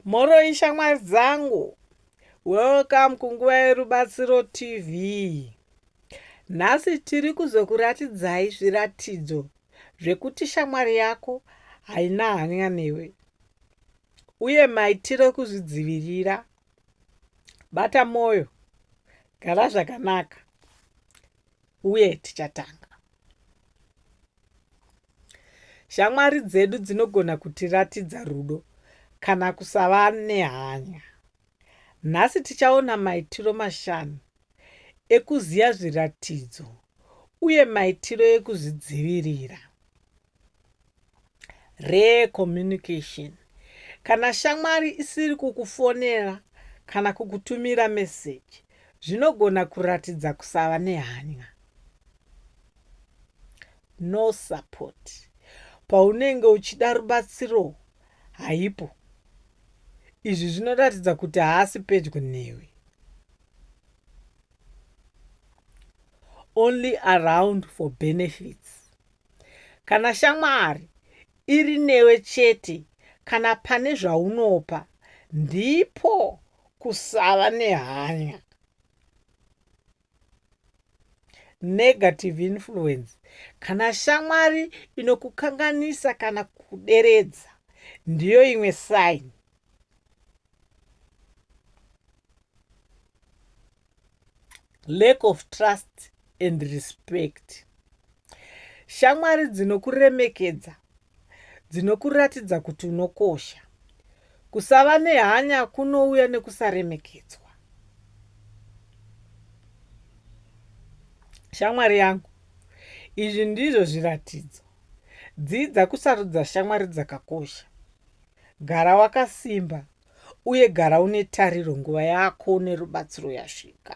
Mhoroi shamwari dzangu, welcome kunguva yerubatsiro TV. Nhasi tiri kuzokuratidzai zviratidzo zvekuti shamwari yako haina hanya newe uye maitiro ekuzvidzivirira. Bata mwoyo, gara zvakanaka. uye tichatanga. Shamwari dzedu dzinogona kutiratidza rudo kana kusava nehanya. Nhasi tichaona maitiro mashanu ekuziva zviratidzo uye maitiro ekuzvidzivirira. Rare communication. Kana shamwari isiri kukufonera kana kukutumira meseji zvinogona kuratidza kusava nehanya. No support. Paunenge uchida rubatsiro haipo. Izvi zvinoratidza kuti haasi pedyo newe. Only around for benefits. Kana shamwari iri newe chete kana pane zvaunopa ndipo kusava nehanya. Negative influence. Kana shamwari inokukanganisa kana kuderedza ndiyo imwe sign. lack of trust and respect shamwari dzinokuremekedza dzinokuratidza kuti unokosha kusava nehanya kunouya nekusaremekedzwa shamwari yangu izvi ndizvo zviratidzo dzidza kusarudza shamwari dzakakosha gara wakasimba Uye gara une tariro, nguva yako nerubatsiro yasvika.